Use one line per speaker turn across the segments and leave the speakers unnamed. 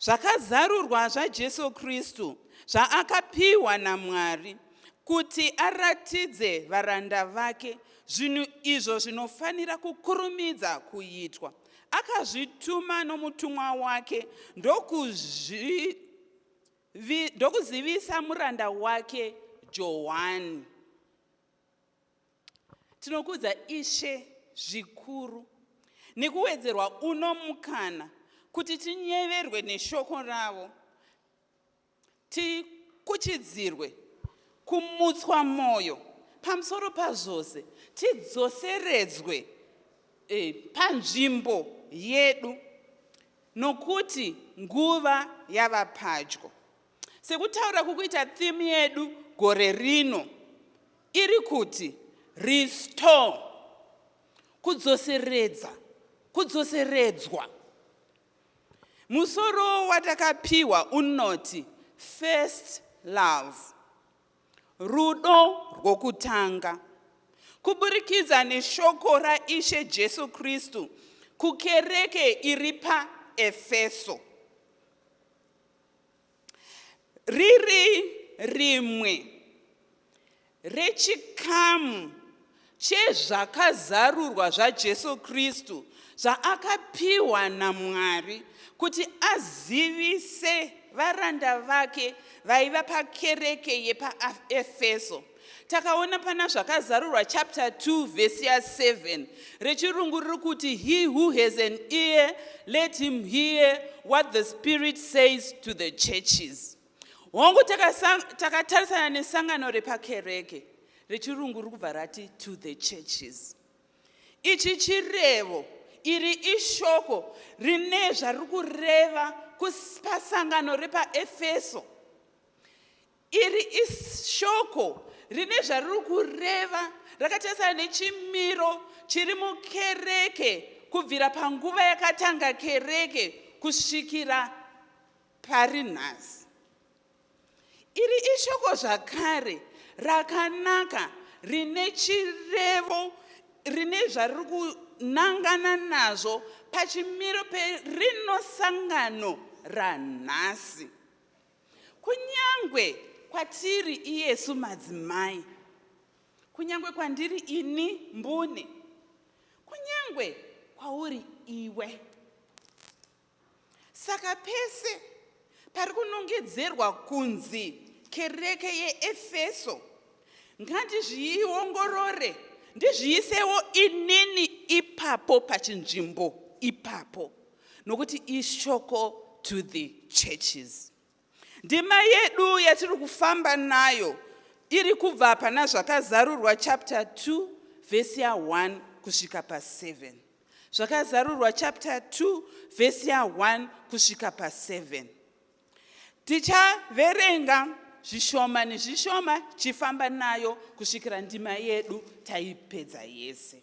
Zvakazarurwa zvaJesu Kristu zvaakapiwa naMwari kuti aratidze varanda vake zvinhu izvo zvinofanira kukurumidza kuitwa. Akazvituma nomutumwa wake ndokuzvi ndokuzivisa muranda wake Johani. Tinokudza Ishe zvikuru nekuwedzerwa uno mukana kuti tinyeverwe neshoko ravo, tikuchidzirwe, kumutswa mwoyo, pamusoro pazvose tidzoseredzwe eh, panzvimbo yedu nokuti nguva yava padyo. Sekutaura kukuita theme yedu gore rino iri kuti restore, kudzoseredza, kudzoseredzwa. Musoro watakapiwa unoti first love, rudo rwokutanga. Kuburikidza neshoko raIshe Jesu Kristu kukereke iri paEfeso. riri rimwe rechikamu chezvakazarurwa zvaJesu Kristu zvaakapiwa naMwari kuti azivise varanda vake vaiva pakereke yepaEfeso. takaona pana zvakazarurwa chapter 2 vhesi ya 7 rechirungu riri kuti he who has an ear let him hear what the spirit says to the churches hongu takatarisana nesangano repakereke rechirungu riri kubva rati to the churches ichi chirevo iri ishoko rine zvariri kureva pasangano repaefeso Iri ishoko rine zvariri kureva rakatarisana nechimiro chiri mukereke kubvira panguva yakatanga kereke kusvikira pari nhasi. Iri ishoko zvakare rakanaka rine chirevo rine zvariri kunangana nazvo pachimiro perino sangano ranhasi. Kunyangwe kwatiri iyesu madzimai, kunyangwe kwandiri ini mbune, kunyangwe kwauri iwe. Saka pese pari kunongedzerwa kunzi kereke yeEfeso, ngandizviongorore ndizviisewo inini ipapo pachinzvimbo ipapo. nokuti ishoko to the churches ndima yedu yatiri kufamba nayo iri kubva pana zvakazarurwa chapter 2 vhesi ya 1 kusvika pa 7 zvakazarurwa chapter 2 vhesi ya 1 kusvika pa 7 tichaverenga zvishoma nezvishoma chifamba nayo kusvikira ndima yedu taipedza yese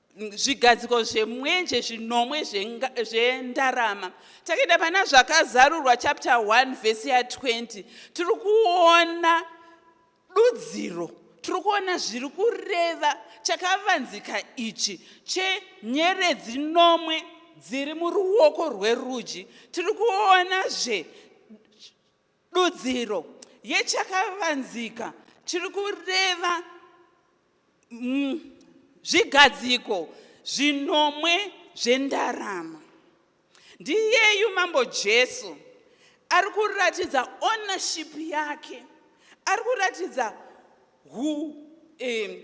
zvigadziko zvemwenje zvinomwe zvendarama takaenda pana zvakazarurwa chapter 1 vhesi ya 20 tiri kuona dudziro tiri kuona zviri kureva chakavanzika ichi chenyeredzi nomwe dziri muruoko rwerudyi tiri kuonazve Dudziro yechakavanzika chiri kureva mm, zvigadziko zvinomwe zvendarama. Ndiyeyu Mambo Jesu ari kuratidza ownership yake, ari kuratidza hu, eh,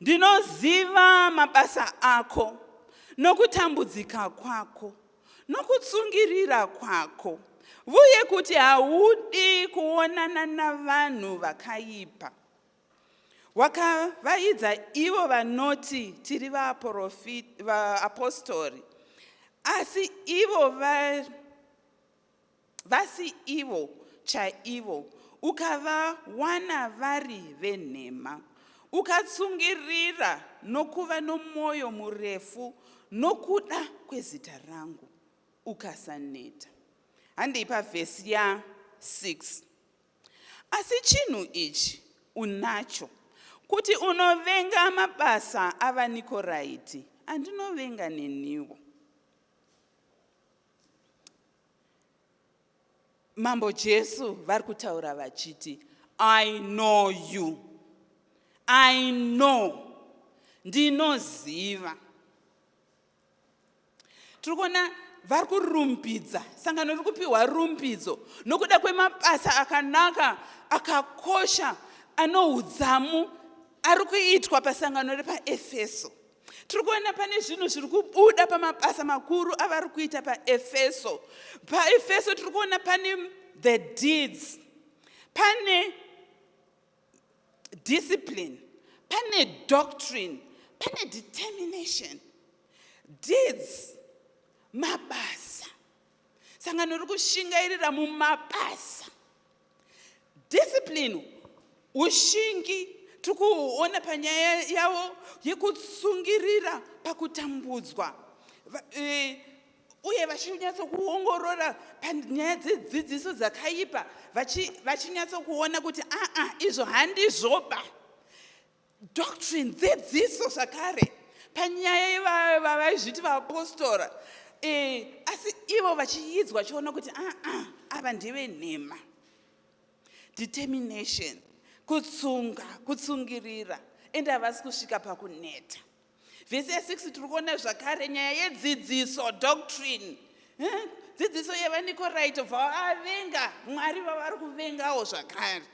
Ndinoziva mabasa ako nokutambudzika kwako nokutsungirira kwako vuye kuti haudi kuonana navanhu vakaipa wakavaidza ivo vanoti tiri vaapostori asi ivo vasi ivo chaivo ukavawana vari venhema ukatsungirira nokuva nomwoyo murefu nokuda kwezita rangu ukasaneta handei pavhesi ya 6 asi chinhu ichi unacho kuti unovenga mabasa avanikoraiti andinovenga neniwo mambo jesu vari kutaura vachiti i know you i know ndinoziva tiri kuona vari kurumbidza sangano riri kupiwa rumbidzo nokuda kwemabasa akanaka akakosha anoudzamu ari kuitwa pasangano repaefeso tiri kuona pane zvinhu zviri kubuda pamabasa makuru avari kuita paefeso paefeso tiri kuona pane the deeds pane discipline pane doctrine pane determination deeds mabasa sangano riri kushingairira mumabasa discipline ushingi tiri kuona panyaya yavo yekutsungirira pakutambudzwa e, uye vachinyatsokuongorora panyaya dzedzidziso dzakaipa vachinyatsokuona kuti aa izvo handizvoba doctrine dzidziso zvakare panyaya yevavaizviti vaapostora eh, asi ivo vachiidzwa chiona kuti aa ah, ah, ava ndeve nhema determination kutsunga kutsungirira ende havasi kusvika pakuneta vhesi ya 6 tiri kuona zvakare nyaya yedzidziso doctrine eh, dzidziso yevanikoraito bva vavenga mwari vavari kuvengawo zvakare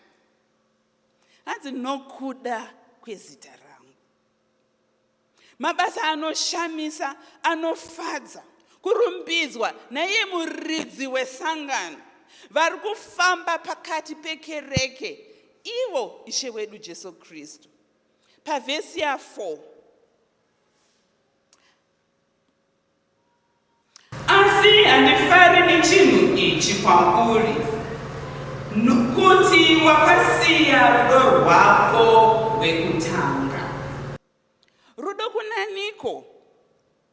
hanzi nokuda kwezita rangu mabasa anoshamisa anofadza kurumbidzwa naiye muridzi wesangano vari kufamba pakati pekereke ivo ishe wedu jesu kristu pavhesi ya 4 Asi handifari nechinhu ichi kwauri, nokuti wakasiya rudo rwako rwekutanga. Rudo kunaniko?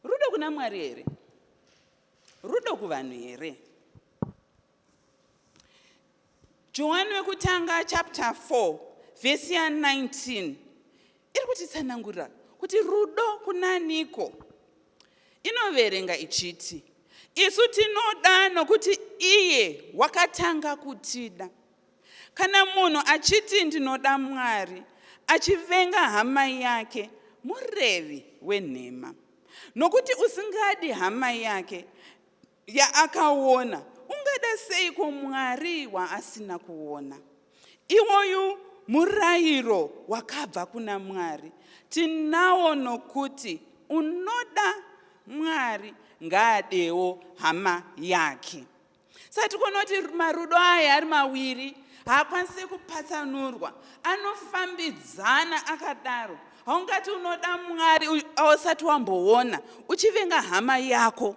Rudo kuna Mwari here? Rudo kuvanhu here? Johani wekutanga chapter 4 vhesi ya 19 iri kutitsanangurira kuti rudo kunaniko inoverenga ichiti isu tinoda nokuti iye wakatanga kutida kana munhu achiti ndinoda mwari achivenga hama yake murevi wenhema nokuti usingadi hama yake yaakaona, ungada seiko Mwari waasina kuona? Iwoyu murayiro wakabva kuna Mwari. Tinawo nokuti unoda Mwari ngaadewo hama yake. Saka tikuona kuti marudo aya ari mawiri haakwanisi kupatsanurwa, anofambidzana akadaro. Haungati unoda Mwari ausati wamboona uchivenga hama yako.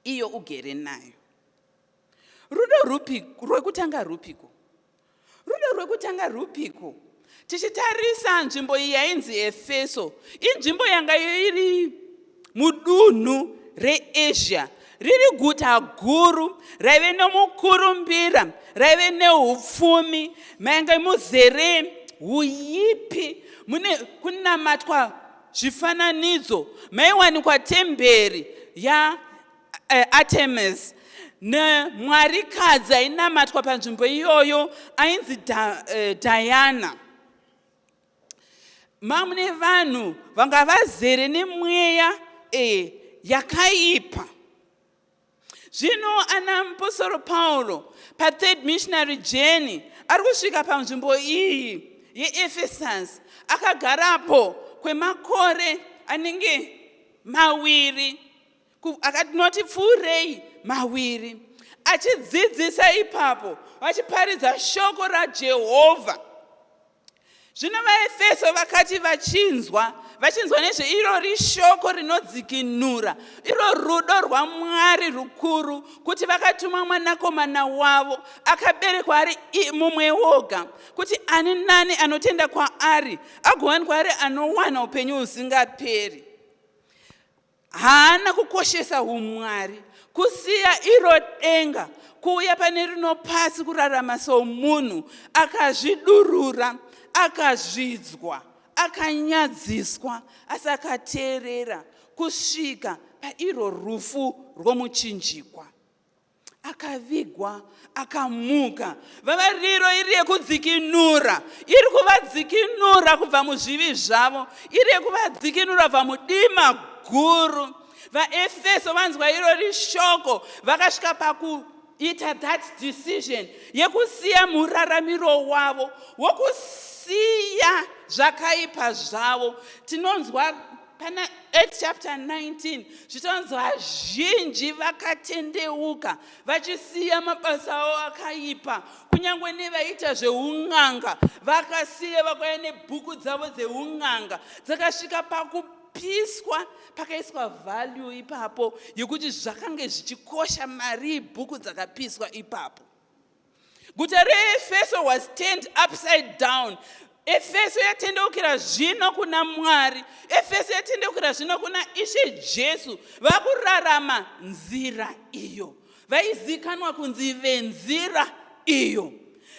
iyo ugere nayo rudo rupi rwekutanga rupiko rudo rwekutanga rupiko tichitarisa nzvimbo iyi yainzi efeso inzvimbo yanga iri mudunhu reasia riri guta guru raive nomukurumbira raive neupfumi mainge muzere uyipi mune kunamatwa zvifananidzo maiwanikwa temberi yaartemis eh, nemwarikadzi ainamatwa panzvimbo iyoyo ainzi eh, diana da, mamune vanhu vanga vazere nemweya e, yakaipa Zvino ana muposoro Pauro pathird missionary journey ari kusvika panzvimbo iyi yeEfesasi akagarapo kwemakore anenge mawiri akanoti pfuurei mawiri achidzidzisa ipapo vachiparidza shoko raJehovha Zvino vaEfeso vakati vachinzwa, vachinzwa nezveirori shoko rinodzikinura, iro rudo rwaMwari rukuru, kuti vakatuma mwanakomana wavo akaberekwa ari mumwe woga, kuti ani nani anotenda kwaari agowanikwa ari anowana upenyu husingaperi. haana kukoshesa humwari kusiya iro denga kuuya pane rino pasi kurarama somunhu akazvidurura akazvidzwa akanyadziswa asi akateerera kusvika pairo rufu rwomuchinjikwa akavigwa akamuka vavariro iri yekudzikinura iri kuvadzikinura kubva muzvivi zvavo iri yekuvadzikinura kubva mudima guru vaefeso vanzwa irori shoko vakasvika pakuita that decision yekusiya muraramiro wavo wokusiya zvakaipa zvavo tinonzwa pana Acts chapter 19 zvitonzi vazhinji vakatendeuka vachisiya mabasa avo akaipa kunyange nevaiita zveun'anga vakasiya vakauya nebhuku dzavo dzeun'anga dzakasvika pakupiswa pakaiswa value ipapo yekuti zvakange zvichikosha mari bhuku dzakapiswa ipapo Guta reEfeso was turned upside down. Efeso yatendeukira zvino kuna Mwari. Efeso yatendeukira zvino kuna Ishe Jesu. Vakurarama nzira iyo. Vaizikanwa kunzi venzira iyo.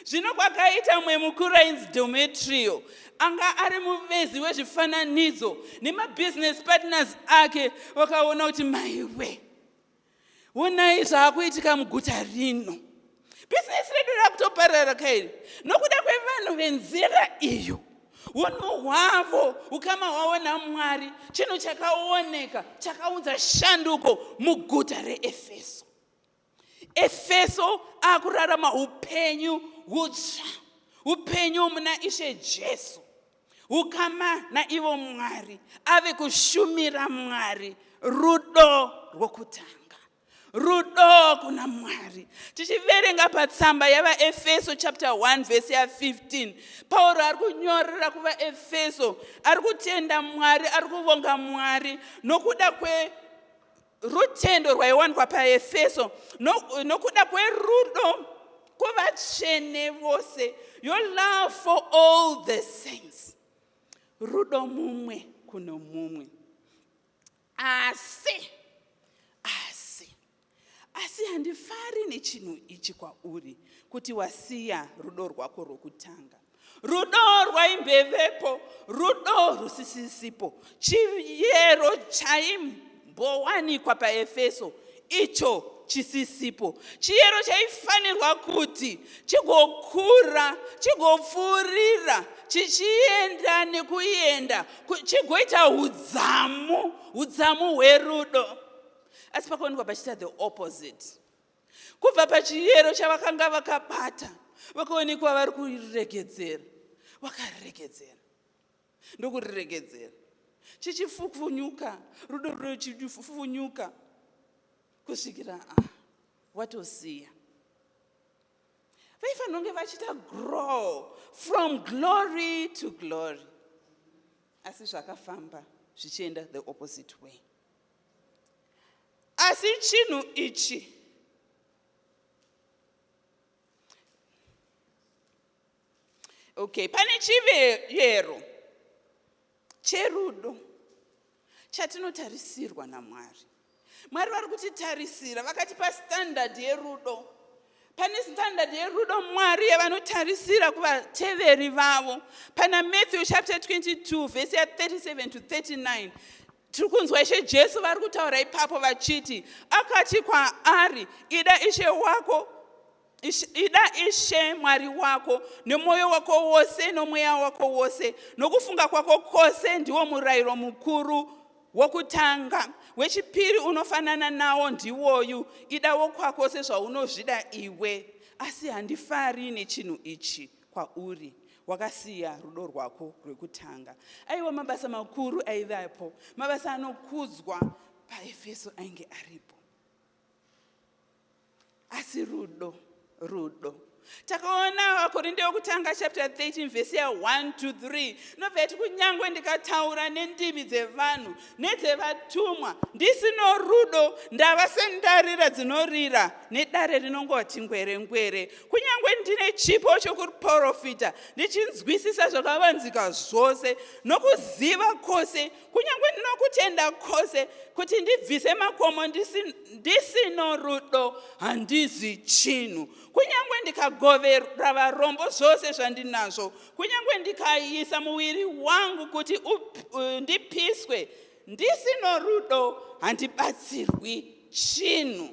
Zvino kwakaita mwe mukuru ainzi Demetrio anga ari muvezi wezvifananidzo nemabusiness partners ake vakaona kuti maiwe Honai zvaakuitika muguta rino. Bhizinesi redu rakutoparara kairi nokuda kwevanhu venzira iyo. Unhu hwavo ukama hwavo naMwari chinhu chakaoneka chakaunza shanduko muguta reEfeso. Efeso akurarama upenyu hutsva, upenyu muna Ishe Jesu. Ukama naivo Mwari ave kushumira Mwari rudo rwokutanga rudo kuna mwari tichiverenga patsamba yavaefeso chapter 1 vhesi ya15 pauro ari kunyorera kuvaefeso ari kutenda mwari ari kuvonga mwari nokuda kwe Rutendo rwaiwanikwa paEfeso no, nokuda kwerudo kuvatsvene vose, your love for all the saints, rudo mumwe kuno mumwe. Asi, asi, asi handifari nechinhu ichi kwauri, kuti wasiya rudo rwako rwokutanga. Rudo rwaimbevepo, rudo rusisisipo, chiyero chaimbowanikwa paEfeso icho chisisipo, chiyero chaifanirwa kuti chigokura, chigopfuurira, chichienda nekuenda, chigoita udzamu, udzamu hwerudo. Asi pakuonekwa pachiita the opposite. kubva pachiyero chavakanga vakabata vakaonekwa vari kuriregedzera vakariregedzera ndokuriregedzera chichifufunyuka rudo rudo chichifufunyuka kusvikira a ah, watosiya vaifanira kunge vachiita grow from glory to glory asi zvakafamba zvichienda the opposite way Asi chinhu ichi okay, pane chivero cherudo chatinotarisirwa naMwari. Mwari vari kutitarisira, vakatipa standard yerudo. Pane standard yerudo Mwari yavanotarisira kuvateveri vavo. Pana Matthew chapter 22 verse 37 to 39 tiri kunzwa ishe jesu vari kutaura ipapo vachiti akati kwaari ida ishe wako ida ishe mwari wako nemwoyo wako wose nomweya wako wose nokufunga kwako kwose ndiwo murayiro mukuru wokutanga wechipiri unofanana nawo ndiwoyu ida wokwako sezvaunozvida iwe asi handifari nechinhu ichi kwauri wakasiya rudo rwako rwekutanga aiwa mabasa makuru aivapo mabasa anokudzwa paefeso ainge aripo asi rudo rudo takaona vakorinde yokutanga chapter 13 vhesi ya 1 to 3 nobva yati kunyange ndikataura nendimi dzevanhu nedzevatumwa ndisino rudo ndava sendarira dzinorira nedare rinongowa chingwerengwere kunyange ndine chipo chokuprofita ndichinzwisisa zvakavanzika zvose nokuziva kwose kunyange ndinokutenda kwose kuti ndibvise makomo ndisino rudo handizi chinhu kunyange ndikagovera varombo zvose zvandinazvo Kunyange ndikaisa muviri wangu kuti uh, ndipiswe ndisino rudo handibatsirwi chinhu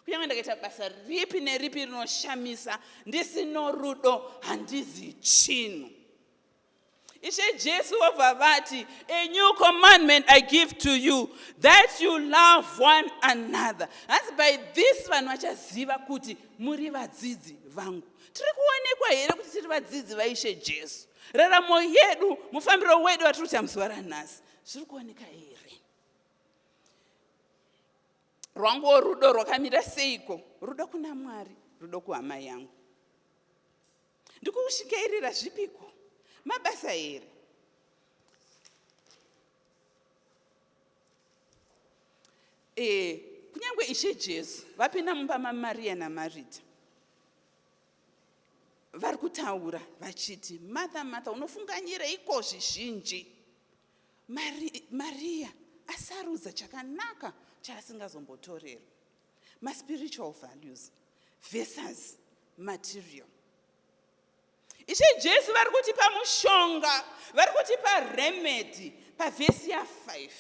kunyange ndakaita basa ripi neripi rinoshamisa ndisino rudo handizi chinhu ishe jesu vobva vati a new commandment i give to you that you love one another hanzi by this vanhu vachaziva kuti muri vadzidzi vangu tiri kuonekwa here kuti tiri vadzidzi vaishe jesu raramo yedu mufambiro wedu watiri kuita muzuva ranhasi zviri kuoneka here rwanguwo rudo rwakamira seiko rudo kuna mwari rudo kuhama yangu ndikukushikairira zvipiko mabasa here Eh, kunyange Ishe Jesu vapinda mumba maMaria naMarita vari kutaura vachiti, Martha, Martha, unofunganyireiko zvizhinji? Mari, Maria asarudza chakanaka chaasingazombotorerwa. Maspiritual values versus material. Ishe Jesu vari kutipa mushonga, vari kutipa remedy pavhesi ya5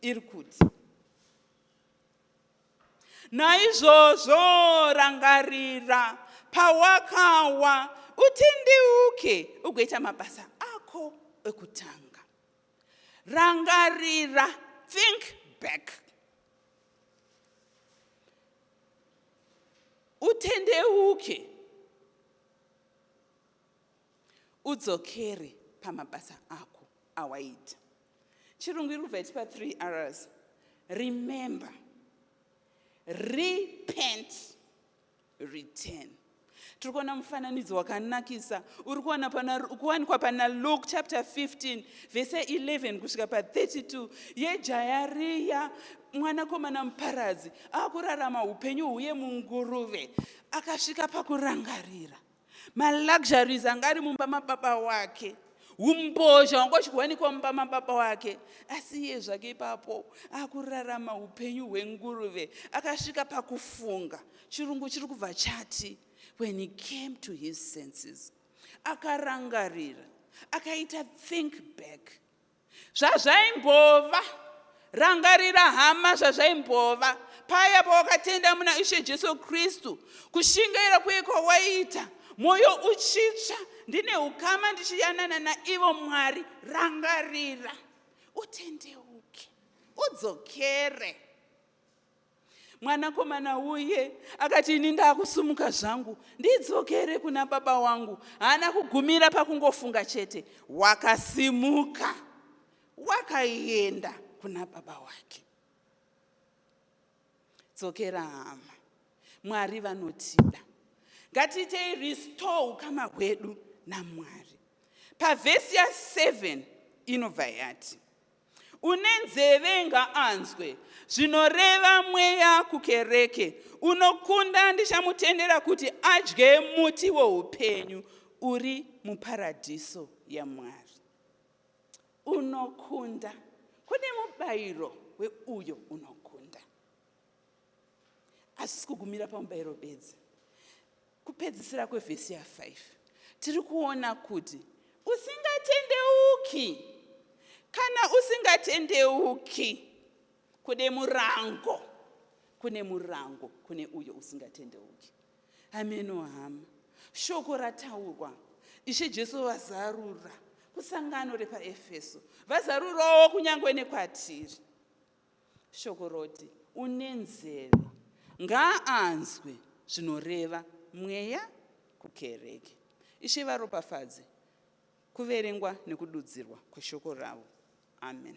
iri kuti naizvozvo rangarira pawakawa utendeuke ugoita mabasa ako ekutanga rangarira think back utendeuke udzokere pamabasa ako awaita chirungu iri kubva itipa 3 rs remember repent return tiri kuona mufananidzo wakanakisa uri kuwanikwa pana luke chapter 15 vese 11 kusvika pa32 yejaya riya mwanakomana muparadzi akurarama upenyu huye munguruve akasvika pakurangarira maluxuries anga ari mumba mababa wake umbozha wanga uchiwanikwa mumba mababa wake asi iye zvake ipapo akurarama upenyu hwenguruve akasvika pakufunga chirungu chiri kubva chati when he came to his senses akarangarira akaita think back Zvazvaimbova. Rangarira hama zvazvaimbova paya pawakatenda muna Ishe Jesu Kristu, kushingaira kuye kwawaita mwoyo uchitsva, ndine ukama ndichiyanana naivo Mwari. Rangarira, utendeuke, udzokere. Mwanakomana uye akati, Ini ndakusumuka zvangu ndidzokere kuna baba wangu. Haana kugumira pakungofunga chete, wakasimuka wakaenda kuna baba wake. Dzokera hama, Mwari vanotida. Ngatiitei restore ukama hwedu naMwari. Pavhesi ya 7 inobva yati, Une nzeve ngaanzwe zvinoreva mweya kukereke. Unokunda ndichamutendera kuti adye muti woupenyu uri muparadhiso yaMwari. Unokunda. Kune mubayiro weuyo unokunda. asisi kugumira pamubayiro bedzi kupedzisira kwevhesi ya5 tiri kuona kuti usingatendeuki kana usingatendeuki kune murango kune murango kune uyo usingatendeuki hameno hama shoko rataurwa ishe jesu vazarura kusangano repaefeso vazarurawo kunyange nekwatiri Shoko roti une nzeve ngaanzwe zvinoreva mweya kukereke. Ishe varopafadze kuverengwa nekududzirwa kweshoko ravo. Amen.